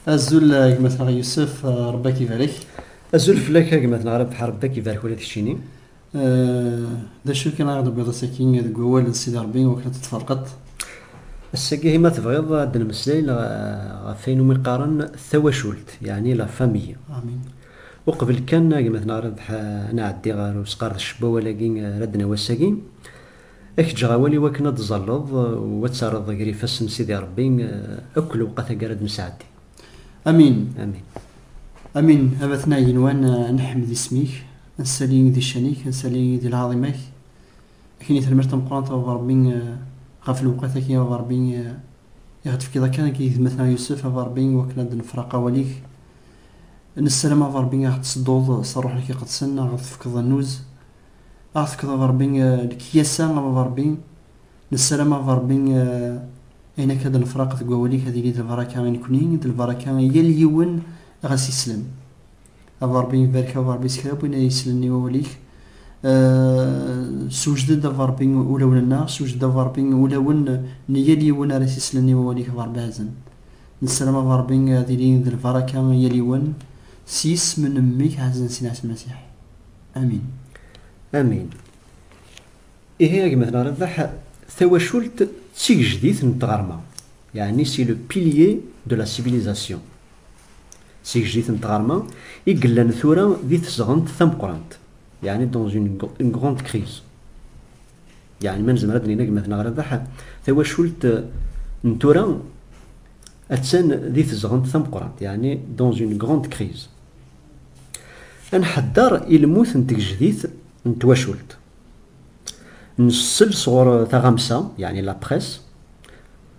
Azul eh, gma-tneɣ Yusef, eh, Rebbi ak ibarek. Azul fell-ak eh, gma-tneɣ Rebbi, Rebbi ak ibarek ula d keččini. D acu kan ara d-tewwiḍ ass-agi deg wawal n Sidi Rebbi wakken ad t-tferqeḍ? Ass-agi ma tebɣiḍ ad d-nemmeslay ɣef ayen umi qqaren tawacult, yeɛni la famille. Amin. Uqbel kan a gma-tneɣ Rabeḥ ad nɛeddi ɣer usqerdec n wawal-agi ara d-nawi ass-agi, ad k-ǧǧeɣ awal i wakken ad d-ẓalleḍ u ad terreḍ ger ifassen n Sidi Rebbi akk lewqat agi ara d-nesɛeddi. Amin. Amin. Amin. A batna igenwan ad neḥmed isem-ik, ad nsali di ccan-ik, ad nsali di lɛaḍima-k. Ad k-ini tanemmirt tameqqrant a baba Rebbi ɣef lewqat-agi a baba Rebbi. i ɣ-d-tefkiḍ akka i geytma-t a Yusef, a Ṛebbi, i wakken a d-nefraq awal-ik. Nessaram a Ṛebbi a ɣ-d-tessedduḍ s Ṛṛuḥ-ik iqedsen, a ɣ-d-tefkeḍ annuz, a ɣ-d-tefkeḍ a Ṛebbi lekyasa, a Ṛebbi. Nessaram a Ṛebbi ayen akka d-nefraq deg wawal-ik ad yili d lbaraka i nekkni, d lbaraka i yal yiwen ɣas islam. a Ṛebbi ibarek a Ṛebbi s kra n win ay yessnen i wawal-ik sewjed-d a Ṛebbi ulawen-nneɣ sewjed-d a Ṛebbi ulawen n yal yiwen ara s-yessnen i wawal-ik a Ṛebbi ɛazen nessaram a Ṛebbi ad ilin d lbaraka yal yiwen s yisem n mmi-k ɛazen sin ɛis Masiḥ amin amin ihi agmatnaɣ Rebbeḥ tawacult d tigejdit n tɣerma yeɛni si le pilier de la civilisation S igejdit n tɣerma i yellan tura di tesɣent tameqqrant, yeɛni dans une grande crise. Yeɛni ma nezmer ad d-nini agmaten aɣerrabaḥ, tawacult n tura attan di tesɣent tameqqrant, yeɛni dans une grande crise. Ad nḥedder i lmut n tgejdit n twacult. Nessel sɣur taɣamsa, yeɛni la presse,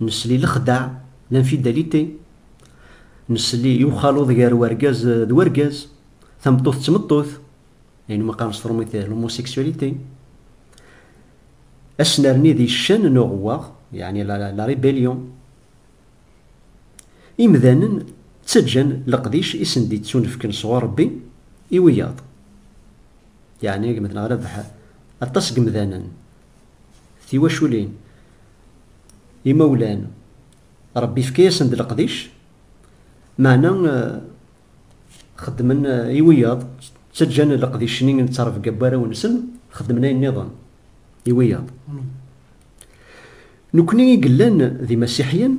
Nesli lexdeɛ, l'infidalité, nesli i uxaluḍ gar wergaz d wergaz, tameṭṭut d tmeṭṭut, ayen umi qqaren s trumit l'homosexualité, ad s-nerni di ccan n uɣewwaɣ, yeɛni la rébellion. Imdanen ttaǧǧan leqdic i sen-d-yettunefken sɣur Rebbi i wiyaḍ, yeɛni agmed neɣ rebḥ. Aṭas n yimdanen Tiwaculin, imawlan, Ṛebbi ifka-yasen-d leqdic, meɛna xeddmen i wiyaḍ, ttaǧǧan leqdic-nni n ttrebga n warraw-nsen, xeddmen ayen nniḍen i wiyaḍ. Nekkni i yellan d imasiḥiyen,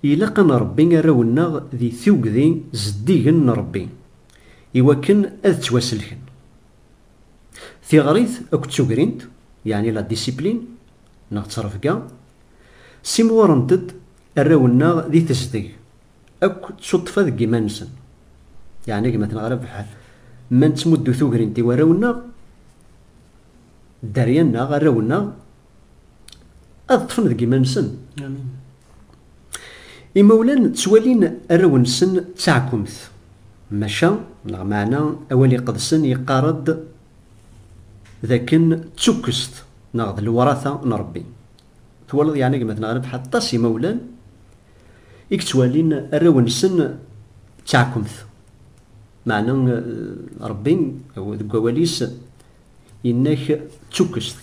ilaq ad nṛebbi arraw-nneɣ di tuggdi zeddigen n Ṛebbi, iwakken ad ttwaselken. Tiɣrit akked tugrint, yeɛni la discipline neɣ ttrebga, ssimɣurent-d arraw-nneɣ di tezdeg akk d tuṭṭfa deg yiman-nsen. Yeɛni gma tenɣa Rabeḥ, ma nettmuddu tugrint i warraw-nneɣ, dderya-nneɣ, arraw-nneɣ, ad ṭṭfen deg iman-nsen. Imawlan ttwalin arraw-nsen d taɛkumt, maca neɣ meɛna awal iqedsen yeqqar-d d akken d tukkest neɣ d lewrata n Rebbi. Twalaḍ yeɛni a gma Tneɣri Beḥ aṭas imawlan i yettwalin arraw-nsen d taɛkumt, meɛna Rebbi deg wawal-is Yenna-k d tukkest,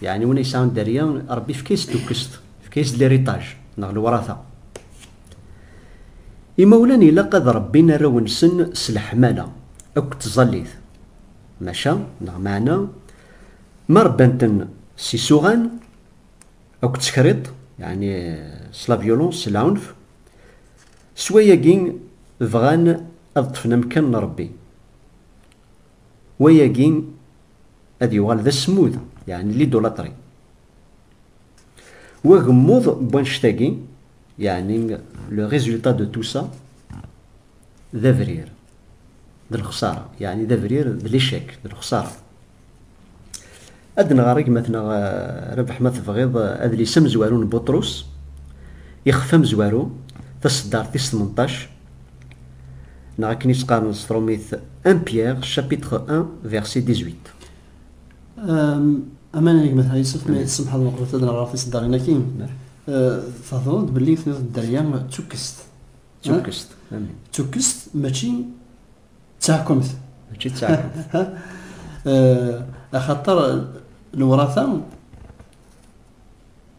yeɛni win yesɛan dderya, Ṛebbi yefka-as tukkest, yefka-as-d liritaj neɣ lewṛata. Imawlan ilaq ad rebbin arraw-nsen s leḥmala akked tẓallit, maca neɣ meɛna ma rebban-ten s isuɣan akked tekriḍt, yeɛni s la violence, s lɛunf, s wayagi bɣan ad ṭṭfen amekkan n Ṛebbi. wayagi ad yuɣal d asmud, yeɛni lidulatri. W agemmuḍ n wannect-agi, yeɛni le résultat de tout ça, d abrir, d lexsara, yeɛni d abrir, d l'échec, d lexsara. Ad nɣer gma-tneɣ Rabeḥ ma tebɣiḍ adlis amezwaru n Buṭrus, Ixef amezwaru, taseddart tis tmenṭac, neɣ akken i tt-qqaren s trumit, 1 Pierre, chapitre 1, verset 18. Aman a gma-tneɣ Yusef, ma yi-tsemḥeḍ meqbet ad nɣer tiseddarin-agi. Theddreḍ-d belli tenniḍ-d Dderya d tukkest. D tukkest, amin. D tukkest, mačči. d taḥkumt mačči d taḥkumt eh, axaṭer lewrata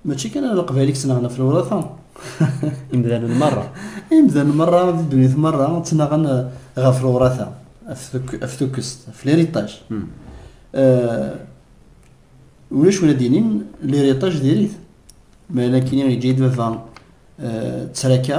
mačči kan ala leqbayel i yettnaɣen ɣef lewrata imdanen merra imdanen merra di ddunit merra ttnaɣen eh, ɣef lewrata af tukkest af liritaj hmm. eh, ulac wala d-inin liritaj diri-t ma ala kini yeǧǧa-yi-d baba ttraka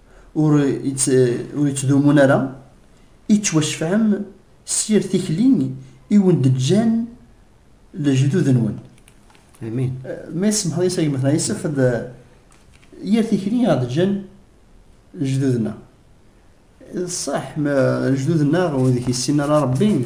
ur yettdumun ara, i tettwacefɛem s yir tikli i wen-d-ǧǧan lejdud-nwen. Amin. Ma isemḥeḍ yes agmatna, yessefd yir tikli i ɣ-d-ǧǧan lejdud-nneɣ. D ṣṣeḥ, lejdud-nneɣ ur d-kessinen ara Rebbi,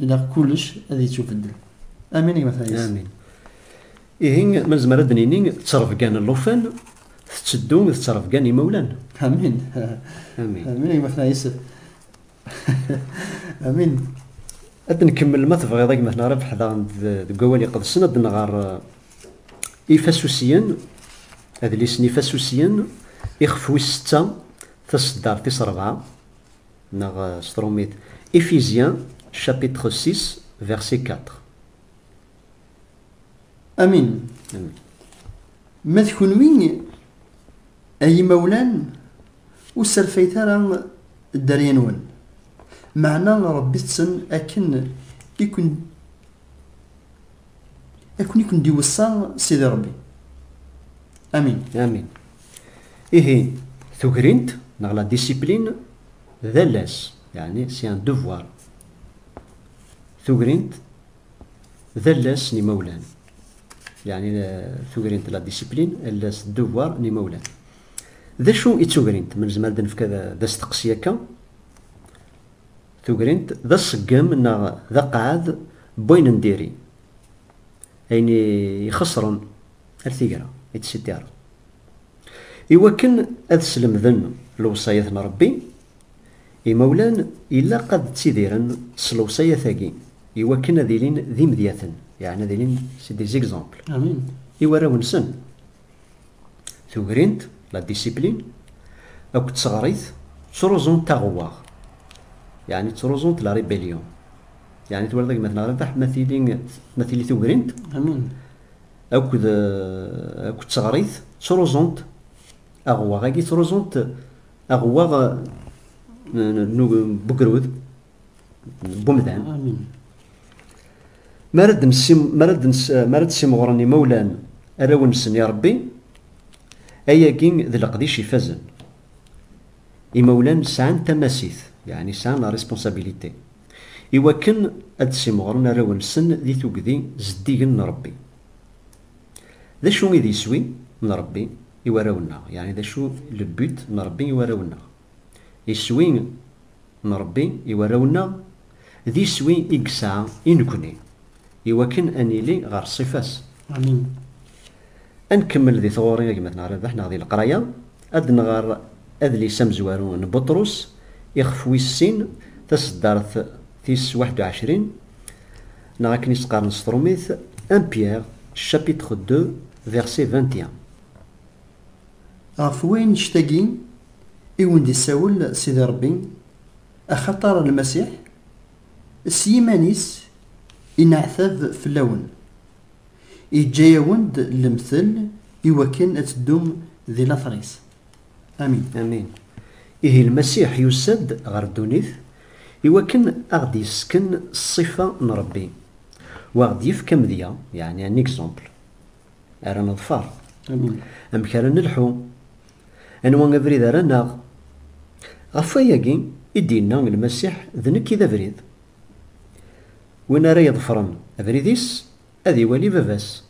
Ilaq kullec ad ittubeddel. Amin a gma Fayez. Amin. Ihi ma nezmer ad nini ttrebga n llufan tetteddu d ttrebga n yimawlan. Amin. Amin. Amin a gma Fayez. Amin. Ad nkemmel ma tebɣiḍ a gma Rabeḥ daɣen deg wawal iqedsen ad nɣer eh, ifasusiyen adlis n ifasusiyen ixef wis setta taseddart tis rebɛa. Neɣ s tṛumit, Éphésiens chapitre 6 verset 4. Amin. Ma d kenwi, ay imawlan, ur sserfayet ara dderya-nwen. Meɛna rebbit-ten akken i ken Akun i ken-d-iwessa Sidi Rebbi. Amin. Amin. Ihi, tugrint, neɣ la discipline, d alas, yani c'est un devoir. Tugrint, d alas n imawlan. Yani tugrint la discipline, alas devoir n imawlan. D acu i d tugrint? Ma nezmer ad nefk d asteqsi akka. Tugrint d aṣeggem neɣ d aqeɛɛed n wayen n diri, ayen i ixeṣren ar tigra, etc. I wakken ad slemden lewṣayat n Rebbi, imawlan ilaq ad ttidiren s lewṣayat-agi i wakken ad ilin d imedyaten, yeɛni ad ilin c'est des exemples, i warraw-nsen. Tugrint, la discipline, akked tseɣrit ttruẓunt aɣewwaɣ, yeɛni ttruẓunt la rébellion. Yeɛni twalaḍ gma tneɣri taḥ ma tili ma tili tugrint akked akked tseɣrit ttruẓunt aɣewwaɣ-agi ttruẓunt aɣewwaɣ n ugrud. bumdan mi ara d-simɣuren imawlan arraw-nsen i Rebbi ayagi d leqdic ifazen imawlan sɛan tamasit yani sɛan la responsabilité iwakken ad d-simɣuren arraw-nsen di tugdi zeddigen n Rebbi d acu i d iswi n Rebbi i warraw-nneɣ yani d acu le but n Rebbi i warraw-nneɣ Iswi n Ṛebbi i warraw-nneɣ, d iswi i yesɛa i nekkni, i wakken ad nili ɣer ṣṣifa-s. Amin. Ad nkemmel di tɣuri a gma-tneɣ Rabeḥ neɣ di leqraya, ad d-nɣer adlis amezwaru n Buṭrus ixef wis sin, taseddart tis waḥed u ɛecrin, neɣ akken i s-qqaren s tṛumit, Un Pierre, chapitre deux, verset vingt et un. Ɣef wannect-agi i wen-d-isawel Sidi Ṛebbi, axaṭer Lmasiḥ s yiman-is ineɛtab fell-awen, iǧǧa-yawen-d lemtel i wakken ad teddum di later-is. Amin. Amin. Ihi Lmasiḥ yusa-d ɣer ddunit i wakken a ɣ-d-yessken ṣṣifa n Ṛebbi, u a ɣ-d-yefk amedya, yeɛni un exemple. ara neḍfer amek ara nelḥu anwa abrid ara naɣ ɣef wayagi i d-yenna lmasiḥ d nekk i d abrid win ara yeḍfren abrid-is ad iwali baba-s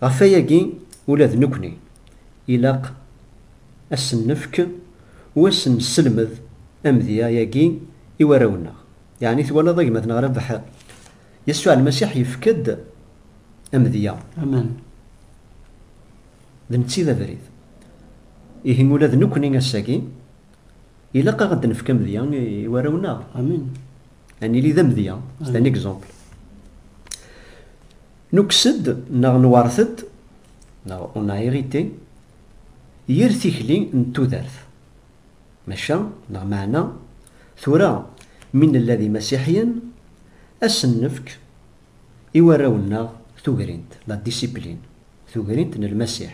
ɣef wayagi ula d nekni ilaq ad sen-nefk u ad sen-nesselmed amedya-agi i warraw-nneɣ yeɛni twalaḍ a gma-tneɣ Rabaḥ Yasuɛ Lmasiḥ yefk-d amedya. Amen. D netta i d abrid. Ihi ula d nekkni ass-agi, ilaq aɣ ad d-nefk amedya i warraw-nneɣ. Amen. Ad nili d amedya, c'est un exemple. Nukkes-d neɣ nwert-d, neɣ on a hérité, yir tikli n tudert. Maca, neɣ meɛna, tura mi nella d imasiḥiyen, ad sen-nefk i warraw-nneɣ tugrint, la discipline, tugrint n Lmasiḥ,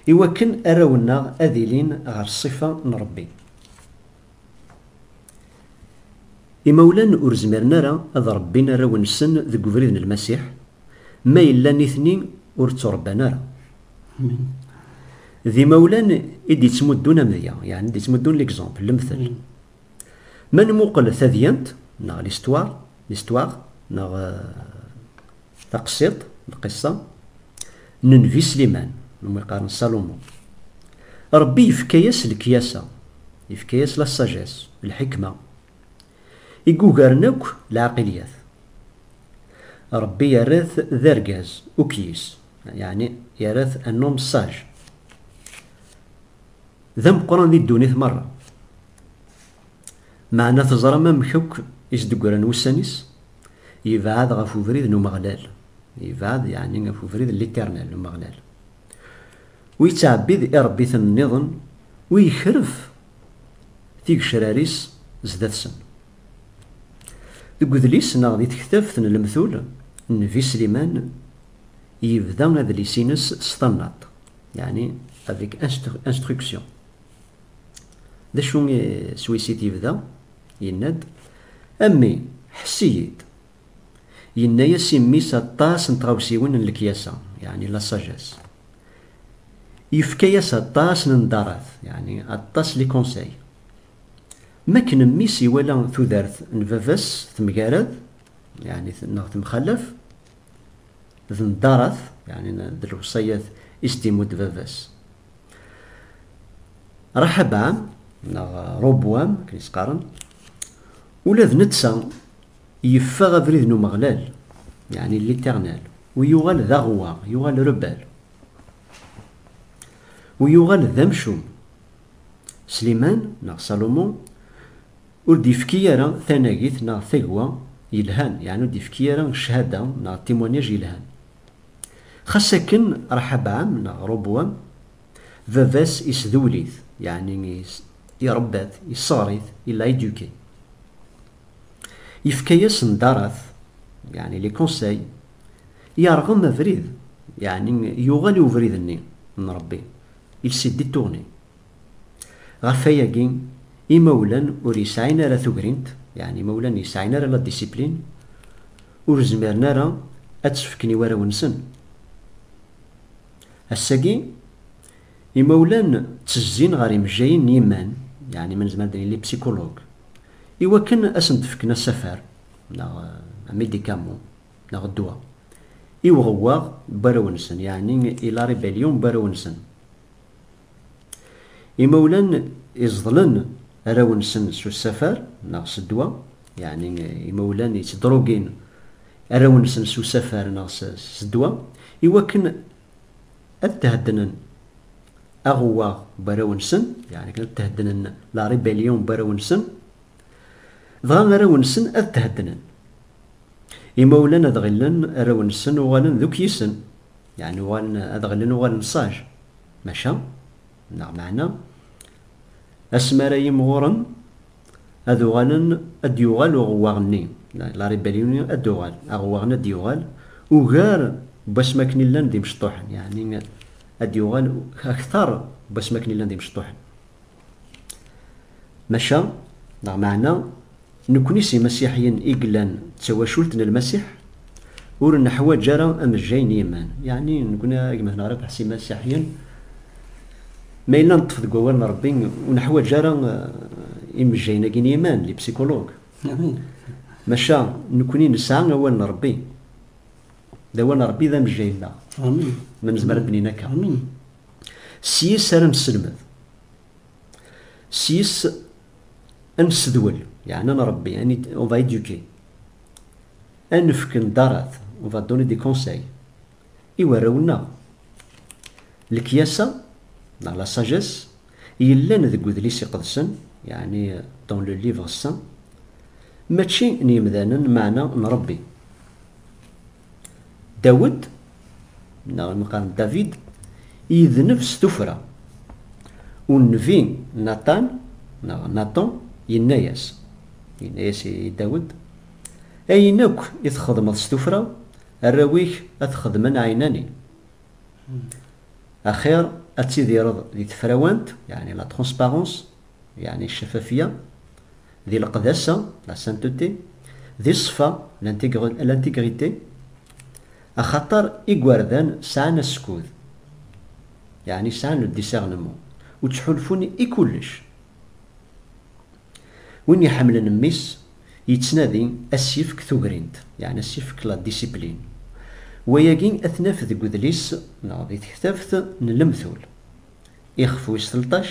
i wakken arraw-nneɣ ad ilin ɣer ṣṣifa n Ṛebbi. Imawlan ur zmiren ara ad ṛebbin arraw-nsen deg ubrid n Lmasiḥ, ma yella nitni ur ttuṛebban ara. D imawlan i d-yettmuddun amedya, yeɛni d-yettmuddun l'exemple, lemtel. Ma nmuqel tadyant, neɣ l'histoire, l'histoire, neɣ taqsiḍt, lqissa, n Nnbi Sliman, neɣ ma yeqqaren Salomon. Rebbi yefka-yas lekyasa, yefka-yas la sagesse, lḥikma, I yugaren akk lɛaqilyat. Ṛebbi yerra-t d argaz ukyis, yeɛni yerra-t un homme sage, d ameqqran di ddunit meṛṛa. Meɛna teẓram amek akk i s-d-ggran wussan-is? Yebɛed ɣef ubrid n Umeɣlal. Yebɛed yeɛni ɣef ubrid n l'Éternel, n Umeɣlal. Ur yettɛebbid iṛebbiten nniḍen, ur yekref tigecrar-is zdat-sen. Deg udlis neɣ di tektabt n lemtul, Nnbi Sliman yebda adlis-ines s tannaḍt, yeɛni avec instruction. D acu s wis i t-yebda? Yenna-d, A mmi, ḥess-iyi-d, Yenna-as i mmi-s aṭas n tɣawsiwen n lekyasa, yeɛni la sagesse. Yefka-as aṭas n nḍarat, yeɛni aṭas les conseils. M'akken mmi-s iwala tudert n baba-s temgarad, yeɛni neɣ temxalaf, d nḍarat, yeɛni d lewṣayat i s-d-imudd baba-s. Raḥabɛam neɣ Robwam, akken i s-qqaren, ula d netta Yeffeɣ abrid n Umeɣlal, yeɛni l'Éternel, u yuɣal d aɣewwaɣ, yuɣal rebelle, u yuɣal d amcum. Sliman, neɣ Salomon, ur d-yefki ara tanagit neɣ tagwa yelhan, yeɛni ur d-yefki ara cchada neɣ témoignage yelhan. Xas akken, Raḥabɛam, neɣ Robowam, baba-s isdewwel-it, yeɛni irebba-t, yesseɣr-it, il l'a éduqué. Yefka-yas ndarat, yeɛni les conseils, yerɣem abrid, yeɛni yuɣal i ubrid-nni n Ṛebbi, il s'est détourné. Ɣef wayagi, imawlan ur yesɛin ara tugrint, yeɛni imawlan ur yesɛin ara la discipline, ur zmiren ara ad tt-fken i warraw-nsen. Ass-agi, Imawlan ttezzin ɣer imejjayen n yiman, yeɛni ma nezmer ad nili psikulug, iwakken ad asen-d-fken asafar neɣ amidikamu neɣ ddwa i uɣewwaɣ n warraw-nsen, yeɛni i la rébellion n warraw-nsen. Imawlan iẓeḍlen arraw-nsen s usafar neɣ s ddwa, yeɛni imawlan yettdrugin arraw-nsen s usafar neɣ s ddwa, iwakken ad theddnen aɣewwaɣ n warraw-nsen, yeɛni akken ad theddnen la rébellion n warraw-nsen, dɣa arraw-nsen ad theddnen. Imawlan ad ɣillen arraw-nsen uɣalen d ukyisen, yeɛni uɣalen ad ɣillen uɣalen sage, maca, Neɣ meɛna, asmi ara yimɣuren ad uɣalen, ad d-yuɣal uɣewwaɣ-nni, la rébellion, ad d-tuɣal, aɣewwaɣ-nni ad d-yuɣal ugar n wasmi akken i llan d imecṭuḥen, yeɛni ad d-yuɣal akteṛ n wasmi akken i llan d imecṭuḥen. Maca, neɣ meɛna. Nekkni s imasiḥiyen i yellan d tawacult n Lmasiḥ, ur neḥwaǧ ara amejjay n yiman. Yeɛni nekkni a gma Henarip s imasiḥiyen, ma yella neṭṭef deg wawal n Rebbi, ur neḥwaǧ ara imejjayen-agi n yiman, les psychologues. Maca nekkni nesɛa awal n Rebbi, d awal n Rebbi i d amejjay-nneɣ, ma nezmer ad d-nini akka. S yis ara nesselmed. Sys ad nessedwel, yani ad nṛebbi, on va éduquer, ad nefk nḍarat, on va donner des conseils, i warraw-nneɣ. Lekyasa neɣ la sagesse yellan deg Udlis Iqedsen, yani dans le Livre Saint, mačči n yemdanen, meɛna n Ṛebbi. Dawed, neɣ mi qqaren David, yedneb s tuffra. Unnbi Natan, neɣ Natan, yenna-yas, yenna-yas i Dawed, Ayen akk i txedmeḍ s tuffra, arraw-ik ad t-xedmen ɛinani. Axir ad tidireḍ di tefrawant, yeɛni la transparence, yeɛni cafafya, Di leqdasa, la sainteté, di ṣṣfa, l'intégrité, axaṭer igerdan sɛan askud, yeɛni sɛan le discernement, u ttḥulfun i kullec. Win iḥemmlen mmi-s yettnadi ad s-yefk tugrint, yeɛni ad s-yefk la discipline. Wayagi ad t-naf deg udlis neɣ di tektabt n Lemtul, ixef wis telṭac,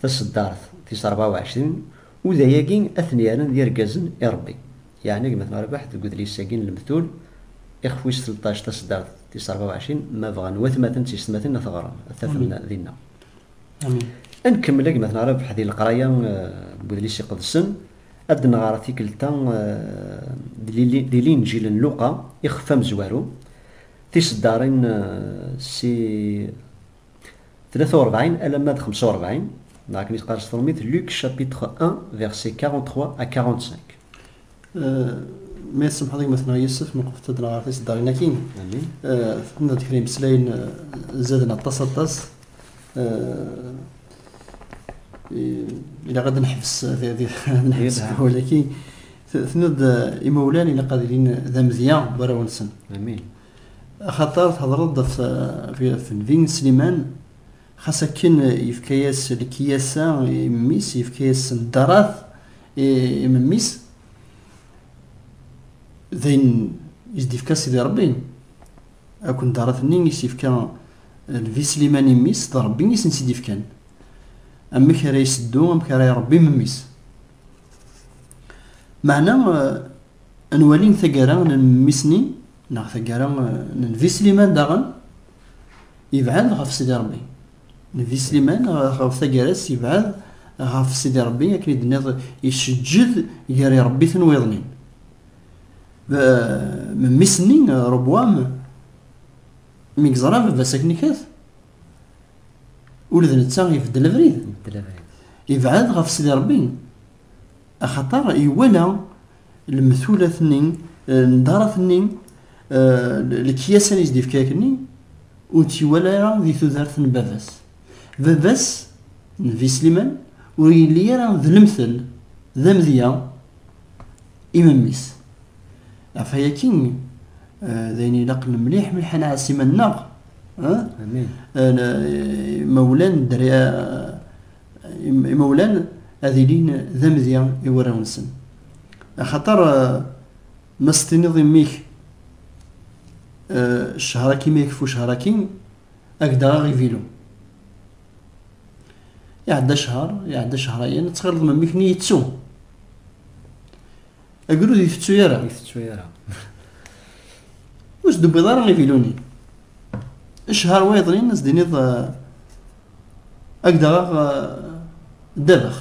Taseddart tis rebɛa u ɛecrin, Uday-agi ad ten-yerren d irgazen i Rebbi. Yeɛna gma-tneɣ Rabaḥ deg udlis-agi n Lemtul, ixef wis tleṭṭac, taseddart tis rebɛa u ɛecrin, Ma bɣan watmaten d tiysetmatin ad t-ɣren, ad t-afen dinna. Ad nkemmel a gma-tneɣ Rabaḥ di leqraya n Udlis Iqedsen, ad d-nɣer tikkelt-a di Linǧil n Luqa, ixef amezwaru, tiseddarin Si 43 alamma d 45 neɣ akken i teqqar s tṛumit Luc chapitre 1 verset 43 à 45 ma yessemḥeḍ gma-tneɣ Yusef meqfet ad nɣer tiseddarin akkin tenna-d kra imeslayen zaden aṭas aṭas ilaq ad nḥebs nḥebs walakin tenna-d imawlan ilaq ad ilin d amedya warraw-nsen Axaṭer theḍṛeḍ ɣef temdint n Sliman, xas akken yefka-yas lekyasa i memmi-s, yefka-yas ddṛat i memmi-s, d ayen i s-d-ifka Sidi Ṛebbi, akk n ddṛat-nni i s-ifka Lbi Sliman i mmi-s, d Ṛebbi i sen-tt-id-ifkan. Amek ara iseddu, amek ara iṛebbi memmi-s? Meɛna Ad nwali taggara n Mmi-Snin neɣ taggara n Nnbi Sliman daɣen yebɛed ɣef Sidi Ṛebbi. Nnbi Sliman ɣef taggara-s yebɛed ɣef Sidi Ṛebbi akken i d-tenniḍ iceǧǧed gar iṛebbiten wiḍen-in. Mmi-Sni Ṛobwam mi yeẓra baba-s akken ikat ula d netta ibeddel abrid. Yebɛed ɣef Sidi Ṛebbi. Axaṭer iwala lemtulat-nni, ldarat-nni, lekyasa i s-d-ifka akkenni, ur tt-iwala ara di tudert n baba-s. Baba-s, Nnbi Sliman, ur yelli ara d lemtel, d amedya i memmi-s. Ɣef waya akkin, d ayen ilaqen mliḥ mliḥ ad nɛass iman-nneɣ, imawlan, dderya, imawlan ad ilin d amedya i warraw-nsen axaṭer eh, ma s-tiniḍ imi-k eh, ccehra-k imi akfu ccehra-ki ak d aɣ ivilu iɛedda ccehar iɛedda ccehrayen ad tɣileḍ memmi-k-nni yettu Agrud itettu yara. Itettu yara. Ur s-d-tewwiḍ ara iviluni. Ccher wa yeḍlin, s-d-iniḍ agdeɣ aɣ ddabex.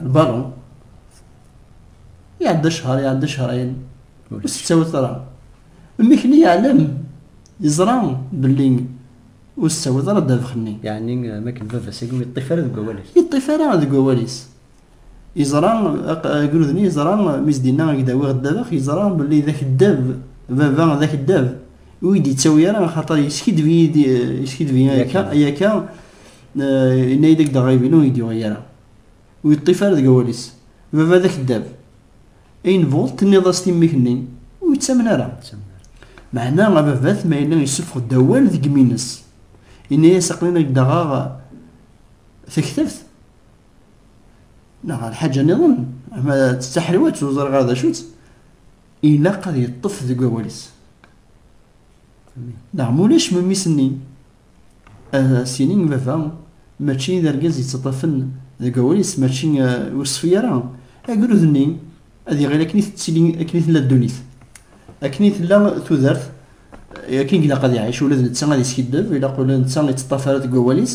Lbaron. Iɛedda ccher, iɛedda cchrayen. Ur s-tettawi ara. Mmekni yeɛlem, yeẓra belli ur s-tettawi ara ddabex-nni. Yeɛni, makken baba-s, yeṭṭif ara deg wawal-is. Yeṭṭif ara deg wawal-is. Yeẓra, agrud-nni yeẓra, mi s-d-yenna ad ak-d-awiɣ ddabex, yeẓra belli d akeddab, baba d akeddab, ur yi-d-yettawi ara, axaṭer yeskiddeb-iyi-d, yeskiddeb-iyi akka, ay akka, yenna-yi-d ad ak-d-aɣeɣ ibinu, ur yi-d-yuɣi ara. Ur yeṭṭif ara deg awal-is. Baba d akeddab. Ayen bɣuḍ tenniḍ-as-t i mmi-k-nni, ur yettamen ara. Meɛna ababat ma yella yessufeɣ-d awal deg yimi-nnes, yenna-as aql-in ad ak-d-aɣeɣ taktabt, neɣ ɣer lḥaǧa niḍen ama d taḥriwat ur ẓriɣ ara d acu-tt ilaq ad yeṭṭef deg wawal-is neɣ ma ulac memmi-s-nni ad as-yini i baba mačči d argaz yettaṭṭafen deg wawal-is mačči ur ṣfi ara agrud-nni ad iɣil akken i tettili akken i tella ddunit akken i tella tudert akken ilaq ad iɛic ula d netta ad yeskiddeb ilaq ula d netta yettaṭṭaf ara deg wawal-is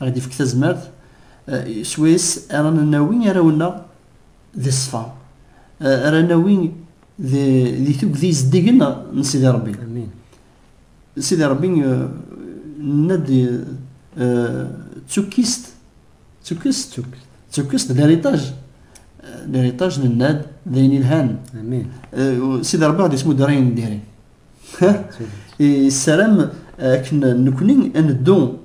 Ɣ-d ifk tazmert s wayes ara nawi arraw-nneɣ di ṣṣfa, ara nawi di tugdi zeddigen n Sidi Ṛebbi. Sidi Ṛebbi nenna-d d tukkist, tukkist, tukkist d eritaj, eritaj nenna-d d ayen ilhan. Sidi Ṛebbi ɣ-d ismudder ayen n diri. yessaram akken nekni ad neddu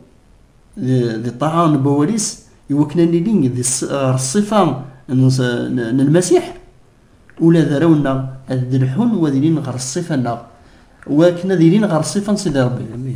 di ṭṭaɛa n wawal-is i wakken ad nili di ṣṣifa n Lmasiḥ ula d arraw-nneɣ ad d-lḥun wa ad ilin ɣer ṣṣifa-nneɣ wakken ad ilin ɣer ṣṣifa n Sidi Rebbi.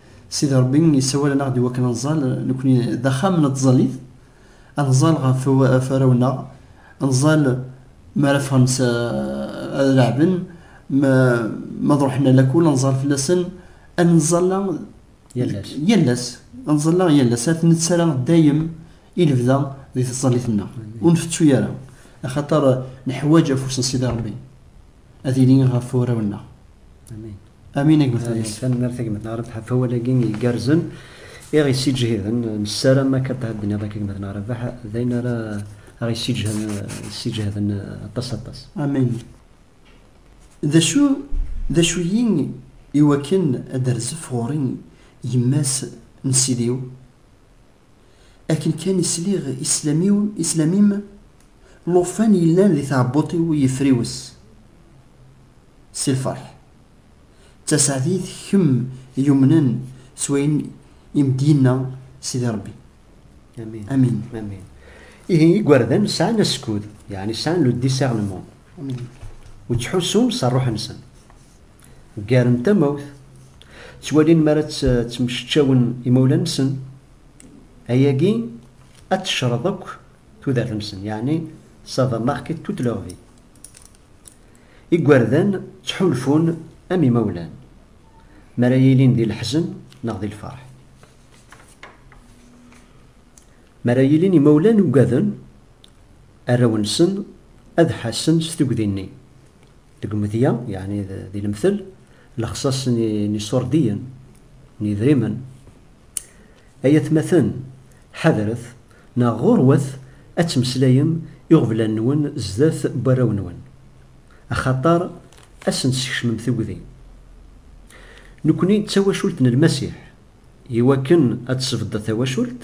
Sidi Ṛebbi yessawal-aneɣ-d i wakken ad nẓall, nekkni d axxam n tẓallit, ad nẓall ɣef warraw-nneɣ, ad nẓall mi ara ffɣen s ad leɛben, ma ad ṛuḥen a lakul ad nẓall fell-asen, ad nẓall yal ass, yal ass, ad nẓall yal ass, ad nettara dayem i lebda di tẓallit-nneɣ, ur nfettu ara, axaṭer neḥwaǧ afus n Sidi Ṛebbi. ad yili ɣef warraw-nneɣ. Amin. Amin a gma Faris. Tanemmirt a gma Naṛeb ɣef awal-agi igerrzen i ɣ-yessiǧhiden. Nessaram akka d tɛedniḍ akka gma Naṛebaḥ d ayen ara ɣ-yessiǧhden aṭas aṭas. Amin. D acu d acu-yi iwakken ad d-terzef ɣur-i yemma-s n Sidi-w? Akken kan i sliɣ i sslam-im, llufan yellan di tɛebbuṭ-iw yefriwes si lferḥ. D taseɛdit kemm yumnen s wayen i m-d-yenna Sidi Rebbi. Amin. Amin. Ihi igerdan sɛan askud, yeɛni sɛan le discernement, u ttḥussun s rruḥ-nsen. Ggaren tamawt, ttwalin mi ara tt-ttmeceččawen imawlan-nsen, ayagi ad tecreḍ akk tudert-nsen, yeɛni ça va marquer toute leur vie. Igerdan ttḥulfun am imawlan mi ara ilin di leḥzen neɣ di lferḥ. Mi ara ilin imawlan ugaden arraw-nsen ad ḥassen s tugdi-nni. Deg umedya, yeɛni di lemtel, lexṣaṣ n yiṣurdiyen n yedrimen. Ay atmaten, ḥadret, neɣ ɣurwat ad temmeslayem iɣeblan-nwen zdat n warraw-nwen, axaṭer ad sen-teskecmem tugdi. Nekkni d tawacult n Lmasiḥ. I wakken ad tesbeddeḍ tawacult,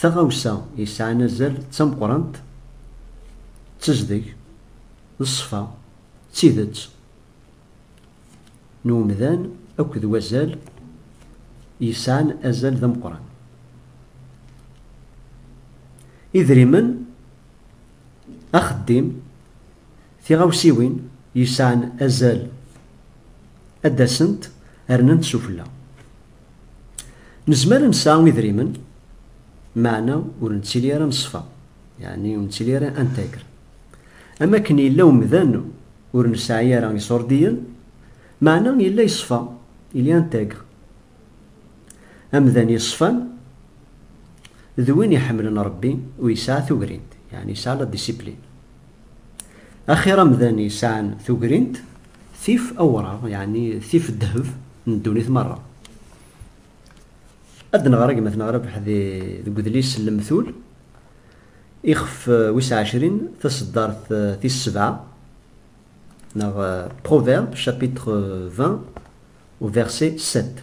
taɣawsa yesɛan azal d tameqqrant d tezdeg. D ṣṣfa, d tidet, n umdan akked wazal yesɛan azal d ameqqran. Idrimen, axeddim, tiɣawsiwin yesɛan azal ad d-asent rnant sufella. Nezmer ad nesɛu idrimen, meɛna ur nettili ara n ṣṣfa, yeɛni ur nettili ara intègre. Am akken yella umdan ur nesɛi ara iṣurdiyen, meɛna yella yeṣfa, il y a intègre. Amdan yeṣfan d win iḥemmlen Ṛebbi u yesɛa tugrint, yeɛni yesɛa la discipline. Axir amdan yesɛan tugrint tif awṛaɣ, yeɛni tif ddheb n ddunit meṛṛa. Ad d-neɣr agmat n Ṛebḥ deg udlis Lemtul. Ixef wis ɛecrin, taseddart tis sebɛa, neɣ Proverbes chapitre 20 au verset 7.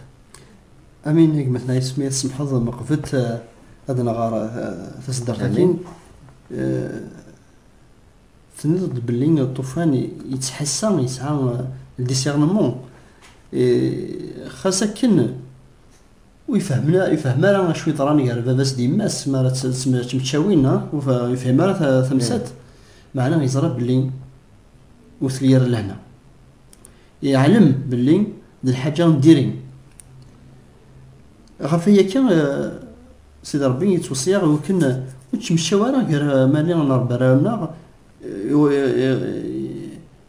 Amin a gma-tneɣ yes mi ad tsemmḥeḍ meqbet ad nɣer taseddart-agi. Tenniḍ-d belli ṭṭufan yettḥassa, yesɛa le discernement. Xas akken Ur yefhem ara acu yeḍran gar baba-s d yemma-s mi ara tt-meččawin, ur yefhim ara tamsalt, meɛna yeẓra belli ur telli ara lehna. Yeɛlem belli d lḥaǧa n diri. Ɣef waya akka, Sidi Ṛebbi yettweṣṣi-aɣ i wakken ur tt-meččaw ara gar Mali n Ṛebbi arraw-nneɣ,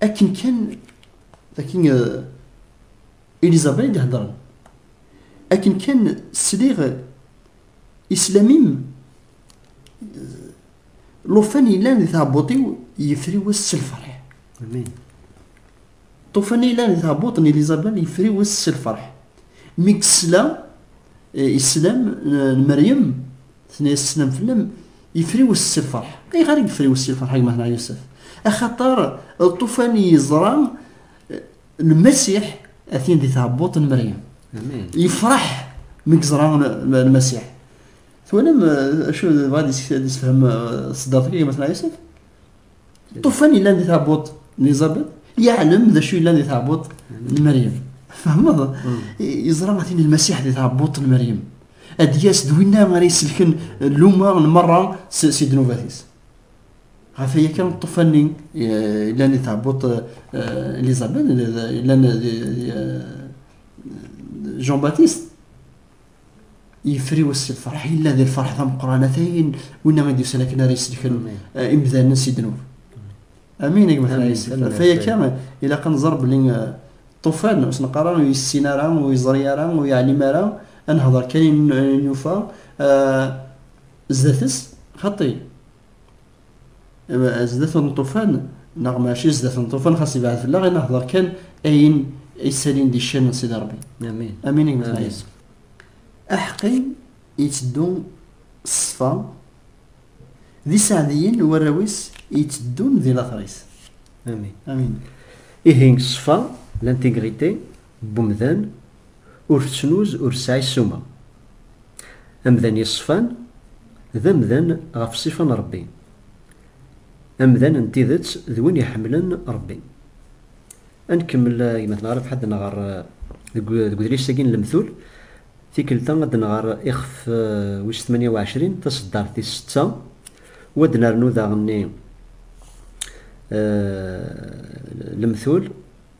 akken kan akken Elizabeth d-hedren akken kan sliɣ islam-im lufan yellan di tɛebbuṭ-iw yefri wass s lferḥ ṭufan yellan di tɛebbuṭ n Elizabeth yefri wass s lferḥ mi yesla islam n Meryem Tenna-yas sslam fell-am, yefriwes s lferḥ. Ayɣer i yefriwes s lferḥ gma Ḥna Yusef? Axaṭer lṭufan yeẓra Lmasiḥ atin di tɛebbuṭ n Meryem. Yefreḥ mi yeẓra Lmasiḥ. Twalam acu bɣa ad yessefhem ṣeddart-agi gma Ḥna Yusef? Ṭufan yellan di tɛebbuḍt n Izabel yeɛlem d acu yellan di tɛebbuḍt n Meryem. Tfehmeḍ? Yeẓra ma tin lmasiḥ di tɛebbuḍt n Meryem. Ad d-yas d winna ara iselken luma n merra si ddnubat-is. Ɣef waya kan ṭufan-nni yellan di tɛebbuḍt Elizabeth, yellan di Jean-Baptiste. yefri wass lferḥ yella di lferḥ tameqqranat ayen winna i d-yusan akken ara yesdekren eh, imdanen si ddnub amin gma xayis faya kan ilaq ad nẓer belli ṭufan eh, ur s-neqqar ara ur yessin ara ur yeẓri ara ur yeɛlim ara ad nehder kan nufa eh, zdat-s xaṭi zdat n ṭufan neɣ maci zdat n ṭufan xas ibɛed fell-aɣ i nehder kan ayen isalin di ccan n Sidi Rebbi amin amin i gmetlɛis aḥqi yetteddu ṣṣfa d iseɛdiyen warraw-is yetteddun di later-is amin amin ihi ṣṣfa l'intégrité n umdan ur tettnuz ur tesɛi ssuma. Amdan yeṣfan d amdan ɣef ṣṣifa n Ṛebbi. Amdan n tidet d win iḥemmlen Ṛebbi. Ad nkemmel gma-tneɣ Ṛebḥa ad d-nɣer deg udlis-agi n Lemtul. Tikkelt-a ad d-nɣer ixef wis tmanya u ɛecrin, taṣeddart tis setta, u ad d-nernu daɣenni Lemtul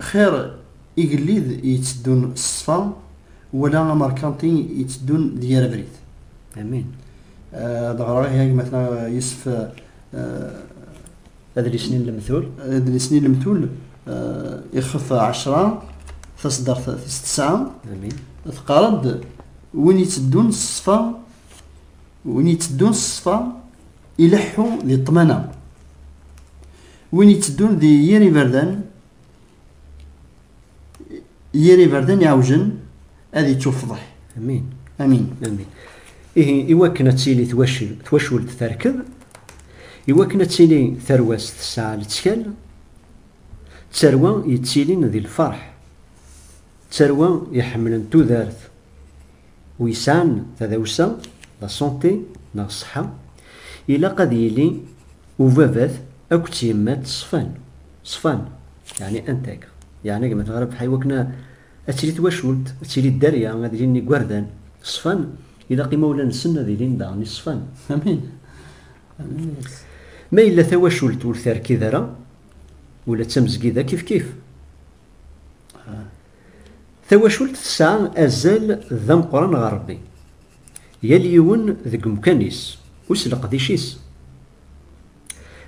Xir igellid yetteddun s ṣṣfa wala amerkanti yetteddun d yir abrid. Amin. Ad ɣreɣ ihi agmatna Yusef Adlis-nni n lemtul. Adlis-nni n lemtul ixef ɛecra taṣeddart tis tesɛa. Amin. Teqqar-d win yetteddun s ṣṣfa win yetteddun s ṣṣfa ileḥḥu di ṭṭmana. Win yetteddun di yir iberdan, yir iberdan iɛewjen ad ittuffḍeḥ. Amin. Amin. Amin. Ihi, iwakken ad tili twacult terked, iwakken ad tili tarwa-s tesɛa lettkal, d tarwa yettilin di lferḥ, d tarwa iḥemmlen tudert, wi yesɛan tadawsa, la santé, neɣ ṣṣeḥḥa, ilaq ad yili ubabat akked tyemmat ṣfan, ṣfan, yeɛni intègres, yeɛni gma tɣerreb ḥa iwakken ad tili twacult, ad tili dderya, ad ilin igerdan ṣfan, ilaq imawlan-nsen ad ilin daɣen iṣfan. Amin. Amin. Ma yella tawacult ur terkid ara, ula d tamezgida kifkif. Tawacult tesɛa azal d ameqqran ɣer Rebbi, yal yiwen deg umkan-is u s leqdic-is.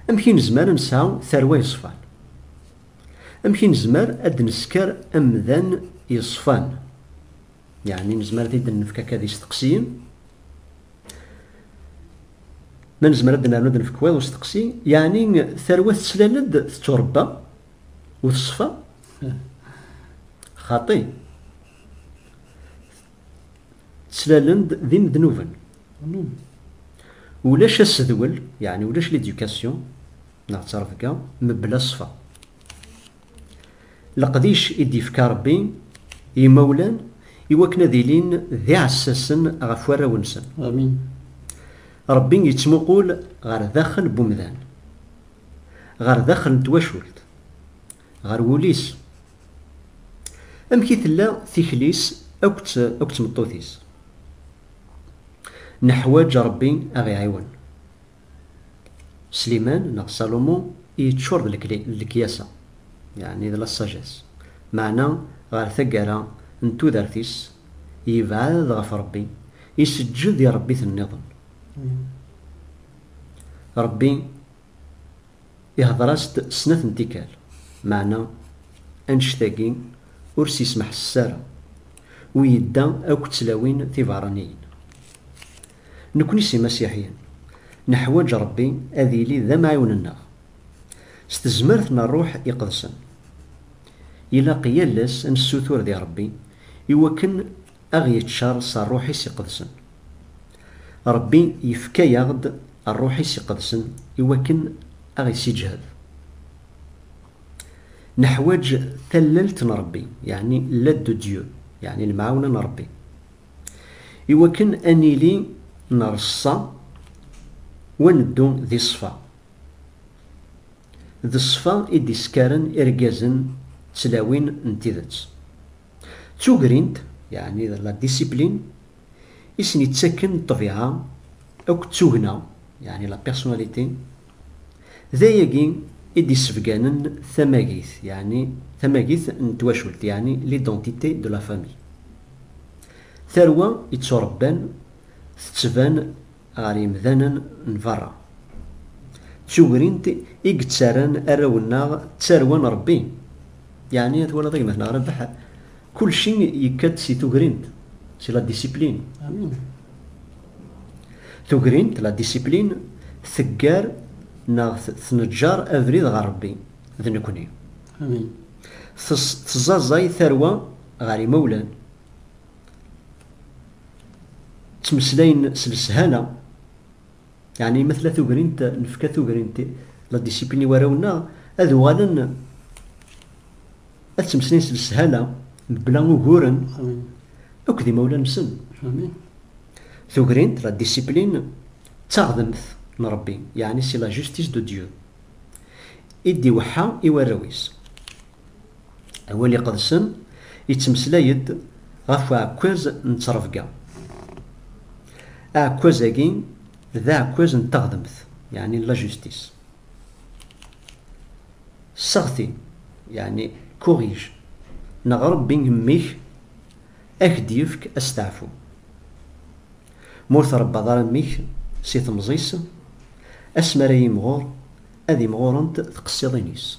Amek i nezmer ad nesɛu tarwa yeṣfan? Amek i nezmer ad d-nesker amdan yeṣfan? Yeɛni nezmer ad t-id-nefk akka d isteqsiyen? Ma nezmer ad d-nernu ad d-nefk waḍ usteqsi, yeɛni tarwa tettlal-d, tetturebba u teṣfa? xaṭi ttlalen-d d imednuben ulac asedwel yeɛni ulac l'éducation neɣ ttrebga mebla ṣṣfa leqdic i d-yefka Rebbi i yimawlan i wakken ad ilin d iɛessasen ɣef warraw-nsen amin Rebbi yettmuqul ɣer daxel n umdan ɣer daxel n twacult ɣer wul-is. Amek i tella tikli-s akked tmeṭṭut-is? Neḥwaǧ Ṛebbi a ɣ-iɛiwen. Sliman neɣ Salumu yeččur d lekyasa, yeɛni d la sagesse, meɛna ɣer taggara n tudert-is yebɛed ɣef Ṛebbi, iseǧǧed i ṛebbiten-nniḍen. Ṛebbi. Ihder-as-d snat n tikkal, meɛna annect-agi ur s-yesmeḥses ara, u yedda akk d tlawin tiberraniyin. Nekni s imasiḥiyen, neḥwaǧ Rebbi ad yili d amɛiwen-nneɣ. S tezmert n Rruḥ Iqedsen, ilaq yal ass ad nessutur di Rebbi iwakken a ɣ-yeţţar s ṛṛuḥ-is iqedsen. Ṛebbi yefka-yaɣ-d ṛṛuḥ-is iqedsen i wakken a ɣ-isiǧhed. Neḥwaǧ tallelt n Ṛebbi, yeɛni l'aide de Dieu, yeɛni lemɛawna n Ṛebbi, i wakken a nili nreṣṣa u a neddu di ṣṣfa. D ṣṣfa i d-iskaren irgazen d tlawin n tideţ. D tugrint, yeɛni d la discipline, i sen-yettakken ṭṭbiɛa akked tugna, yeɛni la personnalité. D ayagi i d-yessebganen tamagit, yeɛni tamagit n twacult, yeɛni l'identité de la famille. Tarwa yetturebban tettban. ɣer yemdanen n berra. D tugrint i yettarran arraw-nneɣ d tarwa n Rebbi. Yeɛni twalaḍ a gma-t neɣ Rabeḥ, kulci yekka-d si tugrint, si la disipline. Tugrint, la disipline, teggar neɣ tneǧǧar abrid ɣer Rebbi d nekni. Teẓẓaẓay tarwa ɣer yimawlan. ttmeslayen s leshana yani ma tella tugrint nefka tugrint la disipini i warraw-nneɣ ad uɣalen ad ttmeslayen s leshana mebla uguren akk d imawlan-nsen tugrint la disipline d taɣdemt n Rebbi yani si la justice de Dieu i d-iweḥḥa i warraw-is Awal iqedsen yettmeslay-d ɣef uɛekkaz n ttrebga. Aɛekkaz-agi d aɛekkaz n teɣdemt, yeɛni la justice. Sseɣti, yeɛni corrige, neɣ Rebbi mmi-k a k-d-yefk asteɛfu. Ma ur trebbaḍ ara mmi-k si temẓi-s, asmi ara yimɣur, ad imɣurent tqessiḍin-is.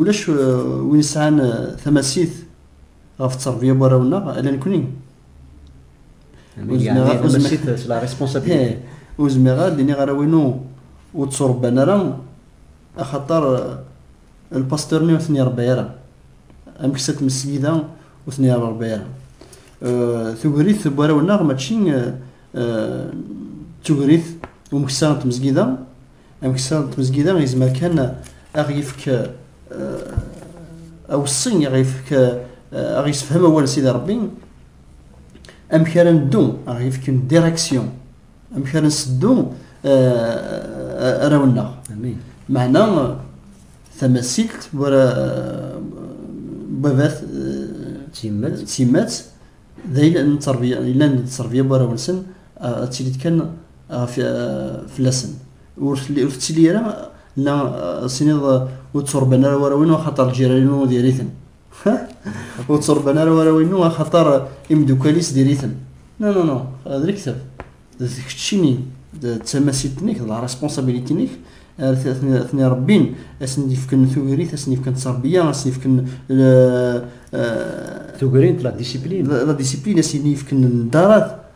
ulac win yesɛan tamasit ɣef tterbiyya n warraw-nneɣ ala nekkni ur zmireɣ ad d-iniɣ arraw-inu ur tturebban ara axaṭer lpastur-nni ur ten-irebba ara amek s tmesgida ur ten-irebba ara tugrit n warraw-nneɣ mačči d tugrit umeksa n tmesgida Ameksa n tmezgida yezmer kan ad ɣ-yefk aweṣṣi, ad ɣ-yefk ad ɣ-yessefhem awal n Sidi Rebbi, amek ara neddu, ad ɣ-yefk une direction, amek ara nseddu arraw-nneɣ. Meɛna tamasilt bu ara babat s yemma-tt, d ayla n tterbiya, yellan d tterbiya bu arraw-nsen, ad tili-d kan ɣef fell-asen ur tettili ara la siniḍ ur tturban ara warraw-inu axaṭer ljiran-inu diri-ten ur tturban ara warraw-inu axaṭer imeddukal-is diri-ten no no no d lektab d keččini d tamasit-nnek d la responsabilité-nnek atni rebbin asen d-yefken tugrit asen d-yefken tterbiya asen d-yefken tugrint la discipline la discipline asen d-yefken darat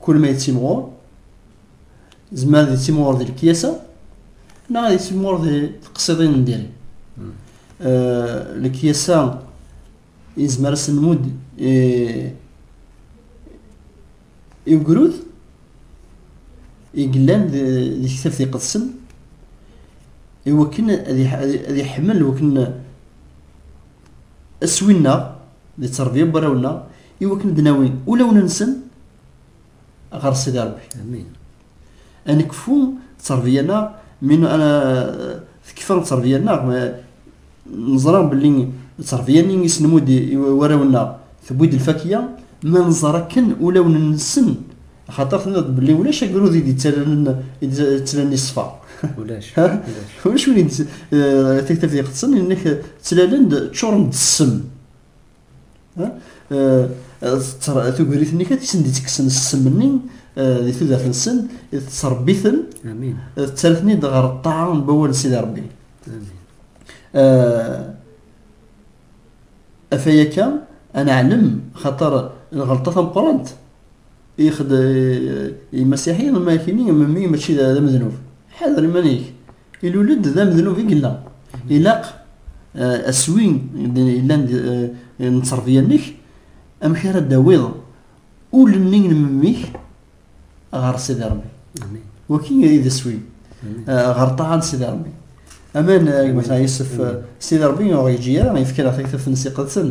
Kul ma yettimɣur, zemmer ad yettimɣur di lekyasa, neɣ ad yettimɣur di teqsiḍin n diri. Hmm. Eh, lekyasa yezmer ad sen-nmudd eh, i ugrud i yellan di tektabt iqedsen i wakken ad iḥemmel wakken aswin-nneɣ di tterbiya n warraw-nneɣ i wakken d-nawi ulawen-nsen ɣer Sidi Rebbi. Amin. Ad nekfu tterbiya-nneɣ, min tekfa tterbiya-nneɣ, neẓra belli tterbiya-nni i s-nemmud i warraw-nneɣ tewwi-d lfakya, ma nẓer akken ulawen-nsen, xaṭer tenniḍ belli ulac agrud i d-yettalen iṣfa. Ulac. Ulac win i d-tektaf yeqdsen, inek ttlalen-d ččuren-d ssem. tugrit-nni kan i sen-d-ittekksen ssem-nni di tudert-nsen tettrebbi-ten tettarra-ten-id ɣer ṭṭaɛa n wawal n Sidi Rebbi afayaka ad neɛlem xaṭer lɣelṭa tameqqrant i yexdem imasiḥi ma kini memmi mačči d amednub ḥader iman-ik Ilul-d d amednub i yella. Ilaq aswi yellan n tterbya-nnek, amek ara d-tawiḍ ul-nni n memmi-k ɣer Sidi Ṛebbi. Waki i d aswi, ɣer ṭṭaɛa n Sidi Ṛebbi. Aman gma Yusef, Sidi Ṛebbi ur ɣ-yeǧǧi ara, yefka-aɣ taktabt-nnes iqedsen.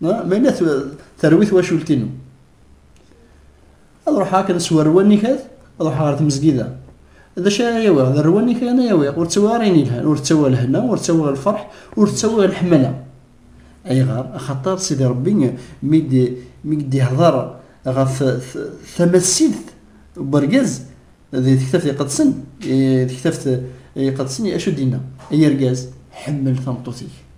Ma yella terwi twacult-inu. Ad ruḥeɣ akken s warwa nnikat, ad ruḥeɣ ɣer tmezgida. D acu ara yawiɣ? D rwa nnikat ara yawiɣ. Ur ttawiɣ ara ayen yelhan. Ur ttawiɣ lehna, ur ttawiɣ lferḥ, ur ttawiɣ leḥmala. Ayɣer? Axaṭer Sidi Ṛebbi mi d-ihdeṛ ɣef tamassilt n wergaz di Tektabt Iqedsen, di Tektabt Iqedsen acu d-inna? Ay argaz, ḥemmel tameṭṭut-ik.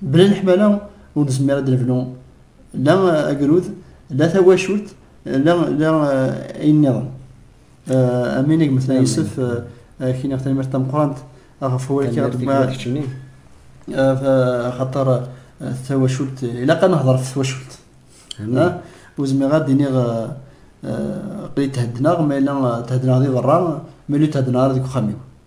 Bla leḥmala ur nezmir ad nebnu la agrud, la tawacult, la la eh, ayen niḍen. Eh, amin i gmetna Yusef, eh, kiniɣ tanemmirt tameqrant ɣef wawal kkiɣ deg xaṭer tawacult ilaq ad nehḍer ɣef twacult ur zmireɣ ad d-iniɣ qli theddneɣ ma yella theddneɣ di berra ma yella theddneɣ ara deg uxxam-iw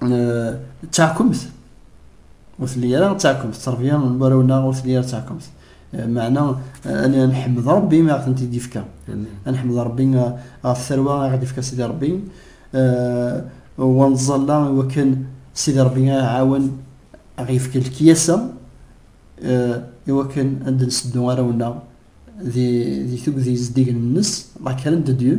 d taɛkemt ur telli ara d taɛkemt tterbya n warraw-nneɣ ur telli ara d taɛkemt meɛna ad nḥemmed Rebbi mi aɣ-tent-id-yefka ad nḥemmed Rebbi ɣef tarwa i aɣ-d-yefka Sidi Rebbi wa nẓalla i wakken Sidi Rebbi aɣ-iɛawen aɣ-yefka lekyasa i wakken ad d-nseddu arraw-nneɣ di tugdi zeddigen-nnes la carente de Dieu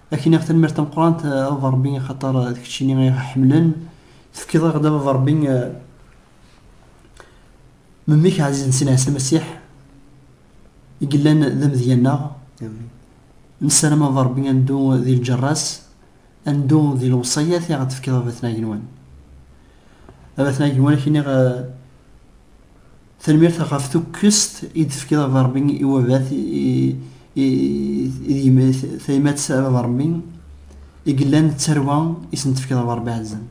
Akinaɣ tanmirt tameqrant a baba rebbi axaṭer d keččini i ɣ-iḥemmlen tefkiḍ aɣ-d a baba rebbi memmi-k ɛzizen sin ɛisa lmasiḥ i yellan d amedya-nneɣ nessaram a baba rebbi ad neddu di lǧerras ad neddu di lewṣayat i ɣ-d-tefkiḍ a baba tnagin-wan a baba tnagin-wan akiniɣ Tanemmirt ɣef tukkest i d-tefkiḍ a Baba Rebbi i wabat tayemmat a Baba Rebbi i yellan d tarwa i sen-tefkiḍ a Baba Rebbi ɛezzan.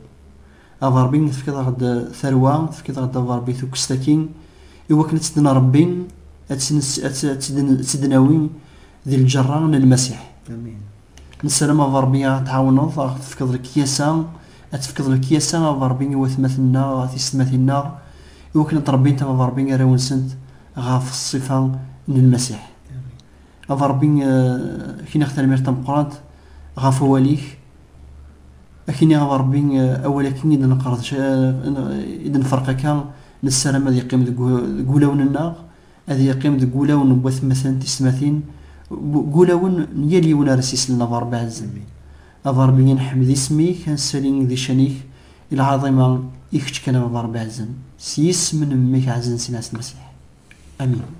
A Baba Rebbi tefkiḍ-aɣ-d tarwa, tefkiḍ-aɣ-d a Baba Rebbi tukkest-aki i wakken ad tt-id-nrebbi, ad tt-id-nawi di lǧerra n Lmasiḥ. Amin. Nessaram a Ṛebbi a ɣ-tɛawneḍ, a ɣ-tefkeḍ lekyasa, ad tefkeḍ lekyasa a Ṛebbi i watmaten-nneɣ, tiysetmatin-nneɣ, i wakken ad ttṛebbint a Ṛebbi arraw-nsent ɣef ṣṣifa n Lmasiḥ. A Ṛebbi, a k-iniɣ tarmirt tameqqrant ɣef wawal-ik, a k-iniɣ a Ṛebbi awal-agi i d-neqreḍ, i d-nferq akka, nessaram ad yeqqim deg wulawen-nneɣ, ad yeqqim deg wulawen n watmaten tismatin, deg ulawen n yal yiwen ara s-islen a Berbi ɛezz-mi. A Berbi a nḥemmed isem-ik, a nsali di ccan-ik i lɛaḍima, i kečč kan a Baba Rebbi ɛezzen, s yisem n Mmi-k ɛezzen Sina Ɛessa Lmasiḥ. Amin.